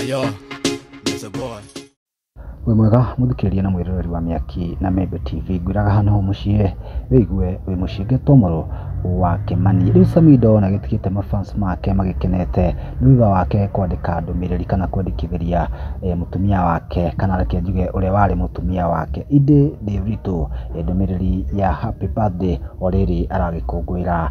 Ayo, there's a boy. wĩ mwega mũthikĩrĩria na mwĩroreri wa mĩaki na membe tv ngwĩraga hana hau mũciĩ wĩigue wĩ mũciĩ ngĩtomorwo wa kĩmani rĩu samido na gĩtigĩte mafans make magĩkenete nĩ thutha wake kwandĩka ndũmĩrĩri kana kwandĩkithĩria eh, mũtumia wake kana reke njuge ũrĩa warĩ mũtumia wake indi ndĩritũ eh, ndũmĩrĩri ya happy birthday o rĩrĩ aragĩkũngũĩra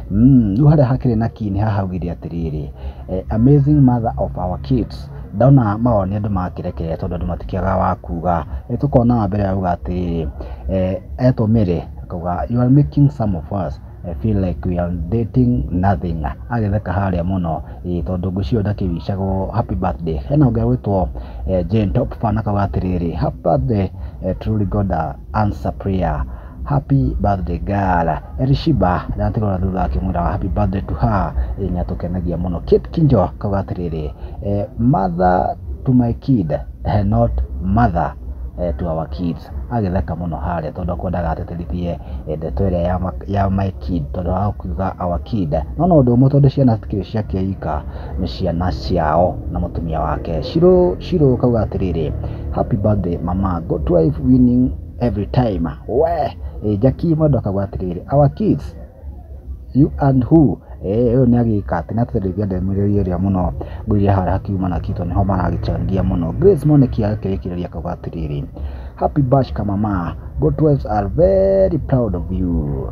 Mm, rĩu harĩa hakĩrĩ na kii nĩ hahaugire atĩrĩrĩ eh, amazing mother of our kids ndona mawoni andũ makĩrekere tondũ andũ matikĩaga wa kuga eh, tũkona wa mbere auga atĩrĩrĩ eh, etwo mĩrĩ akauga you are making some of us eh, feel like we are dating nothing agĩtheka harĩa mũno eh, tondũ ngũcio ndakĩwicagwo happy birthday hena ũngĩ agwĩtwo eh, Jane Top fan akauga atĩrĩrĩ happy birthday eh, truly God uh, answer prayer happy birthday girl Elishiba na atigora thutha akimwira happy birthday to her eh, nĩ atũkenagia mũno Kate Kinjo kauga atĩrĩrĩ eh, mother to my kid eh, not mother eh, to our kids agĩtheka mũno harĩa tondũ akwendaga ateterithie eh, ndeto ĩrĩa ya, ma- ya my kid tondũ wa kuga our kid no na ũndũ ũmwe tondũ ciana citikĩrĩ ciake ika nĩ ciana ciao na mũtumia wake shiro shiro kauga atĩrĩrĩ happy birthday mama good wife winning every time we eh, Jackie Mwendo akauga atĩrĩrĩ our kids you and who eh ũyũ nĩ agĩka atĩ na tũteithia ndemĩrĩria ĩrĩa mũno ngũiria harĩa hakiuma na kito nĩho maragĩchangia mũno Grace Mwaniki agĩkĩrĩkĩrĩria akauga atĩrĩrĩ happy bash kamama Goat wives are very proud of you